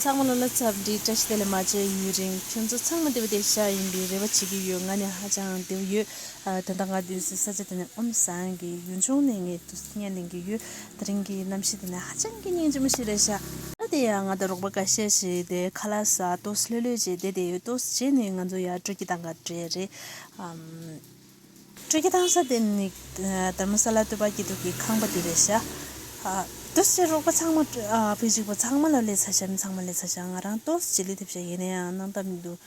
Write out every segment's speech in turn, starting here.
ཚང་མ་ལ་ལ་ཚབ་འདྲི་བཀྲ་ཤིས་བདེ་ལེགས་མ་བྱས་ཡུན་རིང་ཁྱོད་ཚོ་ཚང་མ་བདེ་བ་བདེ་ཤག་ཡིན་པའི་རེ་བ་བྱེད་ཀྱི་ཡོད་ང་ནི་ཧ་ཅང་བདེ་བོ་ཡོད་ད་ལྟ་ང་བསྡད་སའི་ས་ཆ་དེ་ནི་ཨོམ་བཟང་གི་ཡུལ་ལྗོངས་ནས་ངས་ཐུགས་སྙན་གླེང་གི་ཡོད་ད་རིང་གི་གནམ་གཤིས་དེ་ནི་ཧ་ཅང་གི་སྙན་ཅི་མོ་ཞིག་རེད་ཤག། ད་དེ་ཡང་ང་དང་རོགས་པ་འགའ་ཤས་ཞིག་བསྡད་ཁ་ལ་ས་ཏོས་ལྷོད་ལྷོད་ཅིག་བསྡད་དེ་ཡོད་ཏོས་རྗེས་ནས་ང་ཚོ་ཡར་བགྲོད་ཀྱི་སྟངས་ག་རེ་རེད་ཨམ། སྤྲུལ་སྐུ་དང་ས་སྟེང་ནི། དར་མ་ས་ལ་སྟོད་པ་སྐྱིད་སྡུག་གི་ཁང་པ་འདུས་པའི་ཤ། ཏོས་ཀྱི་རོགས་པ་ཚང་མ། བུ་གཅིག་པོ་ཚང་མ་ལ་ལས་ཚ་ཞབས་ཚང་མ་ལས་ཚ་ཞག་ང་རང་ཏོས་ཀྱི་ལས་ཐེབས་ཤག་ཡིན་ན་ཡང་གནང་ཐབས་མི་འདུག་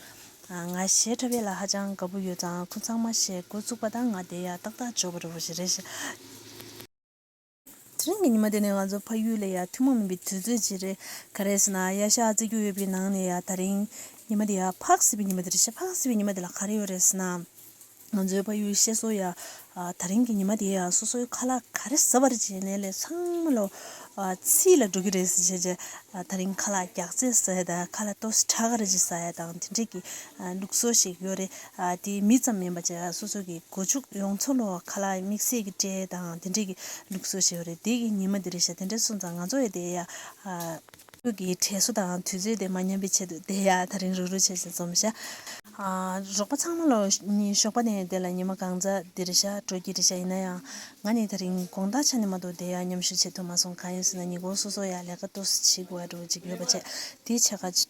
ང་ཞེ་ཁྲ་བས་ལ་ཧ་ཅང་དགའ་པོ་ཡོད་ཙང་ཁོ་ཚང་མ་ཞེ་དགོད་བཙུགས་པ་དང་ང་བསྡད་ཡག་ཏག་ཏག་འཇོག་པར་རེ་ཞིག། དེ་རིང་གི་ཉི་མ་དེ་ནི་ང་ཚོ་ཕ་ཡུལ་ལ་ཡང་ཐུན་མོང་མིན་པའི་དུས་ཚོད་ཅིག་རེད། ག་རེས་ན་གཡའ་ཤག་བརྩེགས་རྒྱུག་ཡོད་པའི་ནང་ནས་ཡང་ད་རིང་ཉི་མ་དེ་ཡང་འཕགས་སྲིད་པའི་ཉི་མ་དེ་རེད་བཤད། འཕགས་སྲིད་པའི་ཉི་མ་དེ་ལ་ག་རེ་ཡོད་རེས་ན། ང་ཚོའི་ཕ་ཡུལ་བཤད་སྲོལ་ཡང་ད་རིང་གི་ཉི་མ་དེ་ཡང་སོ་སོའི་ཁ་ལག་ག་རེ་ཟ་བར་བྱས་ནས་ལས་ཚང་མ་ལོ་ཚིས་ལ་འགྲོ་གི་རེད་ཟེར་བྱས། ད་རིང་ཁ་ལག་རྒྱག་རྩེད་ཟ་ཡ་དང་ཁ་ལ་ལྟོ་ས་ཁྲག་ག་རེ་བྱེད་ཟ་ཡ་དང་དེ་འདྲས་ཀྱི་ལུགས་སྲོལ་ཞིག་ཡོད་རེད། དེའི་མི་ཙམ་མིན་པར་བྱས་ལ་སོ་སོ་གི་སྒོ་ཕྱུགས་ཡོངས་འཚོ་ལོ་ཁ་ལག་མིག་སེར་གྱི་སྤྲེལ་དང་དེ་འདྲས་ཀྱི་ལུག་གསོ་ཞེས་པ་རེད་དེ་གི་ཉིན་མ་དེ་རེད་ཤག་དེ་འདྲས་སོང་ཙང་ང་ཚོ་ཡ་དེ་ཡ། ཁྱོད་ཀྱི་དྲས་གསོ་དང་དུས་ཚོད་དེ་མ་ཉམས་པའི་ཆེད་དུ་དེ་ཡ་ད་རིང་རུག་རུག་བྱས་ཤིང་འཛོམས་ཤག། རོགས་པ་ཚང་མ་ལོ་གཉིས་ཞོགས་པ་ནས་དེ་ལ་ཉིན་མ་གང་ཙ་དེ་རེད་ཤག་དྲོ་སྐྱིད་རེད་ཤག་ཡིན་ན་ཡང་ང་ནི་ད་རིང་དགོང་དག་ཆ་ནས་མ་གཏོགས་དེ་ཡ་མཉམ་ཞུགས་བྱེད་ཐུབ་མ་སོང་གང་ཡིན་ཟེར་ན་ཉི་གོང་སོ་སོ་ཡ་ལས་ཀ་ཏོག་སུ་བྱེད་དགོས་བ་འགྲོ་བ་ཅིག་ཡོད་པ་བྱས་དེའི་ཆེད་ཁ།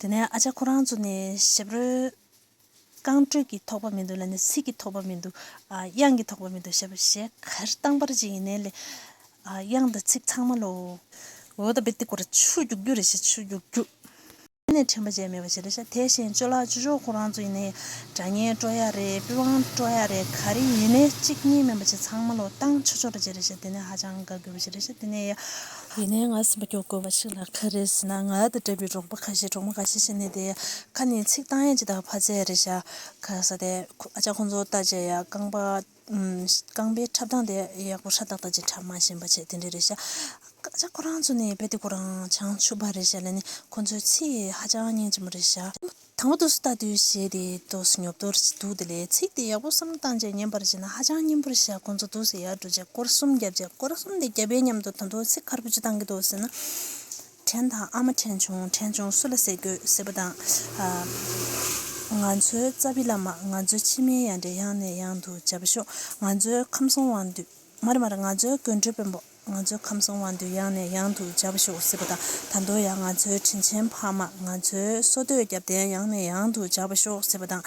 དེ་ནས་ཨ་ཅག་ཁོ་རང་ཚོ་ནི་ཞབས་རོལ། རྐང་འགྲོས་ཀྱིས་ཐོགས་པ་མི་འདུག་ལ་ནི་ཚིག་གིས་ཐོགས་པ་མི་འདུག། དབྱངས་ཀྱིས་ཐོགས་པ་མི་འདུག་ཞེས་པ་ཞེས་གར་སྟངས་པར་ཅིག་ཡིན་ནའི་ལས། དབྱངས་དང་ཚིག་ཚང་མ་ལོ། འོད་དཔལ་ཏི་ཀོར་ཆུ་རྒྱུག་རྒྱུག་རེད་ཞེས་ཆུ་རྒྱུག་རྒྱུག། དེ་ནས་དྲན་པ་བཅས་མེད་པ་ཞིག་རེད། དེ་བཞིན་ཅོ་ལགས་ཅོ་ཅོ་ཁོ་རང་ཚོ་ཡིན་ནའི་དགྲ་གཉེན་སྤྲོ་ཡ་རེད་པི་ཝང་སྤྲོ་ཡ་རེད་ག་རེ་ཡིན་ནའི་གཅིག་གཉིས་མིན་པ་ཅིག་ཚང་མ་ལོ། གཏང་ཆོ་ཆོ་རེད་ཅེས་རེད་ཞེས་དེ་ནི་ཧ་ཅང་དགའ་དགོས་པ་ཞིག་རེད། དེ་ནས། ཡིན་ནའི་ང་སེམས་པ་སྐྱོ་དགོས་པ་ཞིག་ལ་ག་རེ་ཟེར་ན་ང་དང་འདྲ་བའི་འབྲོག་པ་ཁ་ཤས་འབྲོག་མོ་ཁ་ཤས་ཤི་ནས་དེ་ཁ་ནས་ཚིག་བཏང་ཡང་ཇི་ལྟར་ཕ་ཚས་རེད་བྱ་ག་ས་དེ་ཨ་ཅག་ཁོང་ཚོ་ལྟ་བྱས་ཡ་རྐང་པ་རྐང་པའི་ཁྲབ་སྟངས་དེ་ཡག་པོ་ཧྲ་ཏག་ཏག་ཅིག་ཁྲབ་མ་བཞིན་པ་བྱས་དེ་འདྲས་རེད་བྱ་ཨ་ཅག་ཁོ་རང་ཚོ་ནི་རྦད་དེ་ཁོ་རང་བྱང་ཆུབ་པ་རེད་བྱ་ལན་ནི་ཁོང་ཚོའི་ཚིག་ཧ་ཅང་སྙན་ཅིག་མོ་རེད་བྱ། དང་པོ་དུས་སུ་ལྟ་དུས་ཞེས་དེའི་དུས་སུ་ཉོབ་ཏོར་གྱི་དུག་དེ་ལས་ཚིག་དེ་ཡག་པོ་བསམ་བློ་བཏང་རྗེས་ཉན་པར་བྱེད་ན་ཧ་ཅང་སྙན་པོར་བཞག་ཁོ་ཚོ་དུས་སུ་ཡར་འགྲོ་རྗེས་སྐོར་གསུམ་བརྒྱབ་རྗེས་སྐོར་གསུམ་དེ་བརྒྱབ་པའི་མཉམ་དུ་ད་དུང་ཚིག་ཁར་པོ་ཅི་བཏང་གི་འདུག་ཟེར་ན། དྲན་དང་ཨ་མ་དྲན་བྱུང་དྲན་བྱུང་སུ་ལ་ཟེར་དགོས་ཟེར་བ་དང། ང་ཚོའི་རྩ་བའི་བླ་མ་ང་ཚོའི་ཕྱི་མའི་ཡང་འདྲེ་ཡང་ནས་ཡང་དུ་མཇལ་བ་ཤོག་ང་ཚོའི་ཁམས་སྲོང་དབང་འདུས། མ་རེད་མ་རེད་ང་ཚོའི་དགོན་སྤྲུལ་དཔོན་པོ། ང་ཚོའི་ཁམས་གསུམ་དབང་དུ་ཡང་ནས་ཡང་དུ་བྱ་བ་ཤོག་ཟེར་བ་དང་ད་དུང་ཡང་ང་ཚོའི་དྲིན་ཆེན་ཕ་མ་ང་ཚོའི་སོ་བསྟོད་རྒྱབ་རྟེན་ཡང་ནས་ཡང་དུ་བྱ་བ་ཤོག་ཟེར་བ་དང།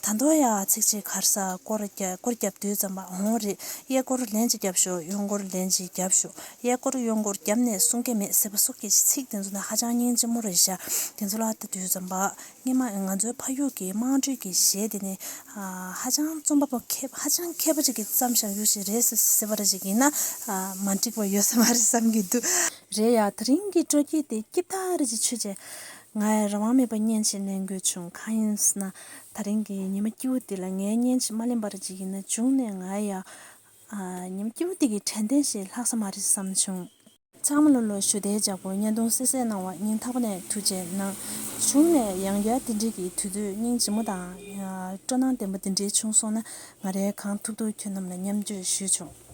ད་དུང་ཡང་ཚིག་གཅིག་གར་ས་སྐོར་བརྒྱབ་དུས་རྩམ་པ་འོང་རེད་གཡས་སྐོར་ལན་གཅིག་བརྒྱབ་ཤོག་གཡོན་སྐོར་ལན་གཅིག་བརྒྱབ་ཤོག་གཡས་སྐོར་གཡོན་སྐོར་བརྒྱབ་ནས་གསུང་གི་མེད་ཟེར་བ་སོགས་ཀྱི་ཚིག་དེ་ཚོ་ནི་ཧ་ཅང་སྙིང་རྗེ་མོ་རེད་ཤག་དེ་ཚོ་ལ་ལྟ་དུས་རྩམ་པ་སྙེ་མ་ང་ཚོའི་ཕ་ཡུལ་གྱི་དམངས་ཁྲོད་ཀྱི་གཞས་དེ་ནི་ཧ་ཅང་རྩོམ་པ་པོ་མཁས་ཧ་ཅང་མཁས་པོ་ཅིག་གིས་བརྩམས་ཞག་ཡུག་ཞིག་རེད་ཟེར་བ་རེ་ཞིག་ཡིན་ན་མ་འགྲིག་པ་ཡོད་ས་མ་རེད་བསམ་གྱི་འདུག། རེད་ཡ། དེ་རིང་གི་སྤྲོ་སྐྱིད་དེ་སྐྱིད་ཐག་རེད་ཅེས་ཆོས་རྗེས་ང་རང་དབང་མེད་པར་བརྙན་ཞིག་ལེན་དགོས་བྱུང་གང་ཡིན་ན་ད་རིང་གི་ཉི་མ་སྐྱིད་བོ་འདི་ལ་ངའི་བརྙན་ཞིག་མ་ལེན་པ་རེ་ཅིག་ཡིན་ན་བྱུང་ནས་ང་ཡང་ཉི་མ་སྐྱིད་བོ་འདི་གི་དྲན་རྟེན་ཞིག་ལྷག་ས་མ་རེད་བསམ་བྱུང། ཚང་མ་ལོ་ལོ་ཞུ་བདེ་བྱ་དགོས་བརྙན་ཐུང་གསལ་གསལ་གནང་བ་སྙིང་ཐག་པ་ནས་ཐུགས་ཆེ་གནང། གཞུང་ནས་ཡང་བསྐྱར་དེ་འབྲེལ་གྱི་དུས་ཚོད་སྙིང་རྗེ་མོ་དང། སྤྲོ་སྣང་ལྡན་པ་འདི་འདྲའི་བྱུང་སོང་ན་ང་རེ་གང་ཐུབ་ཐུབ་ཁྱོད་རྣམས་ལ་མཉམ་བརྗོད་ཞུས་བྱུང།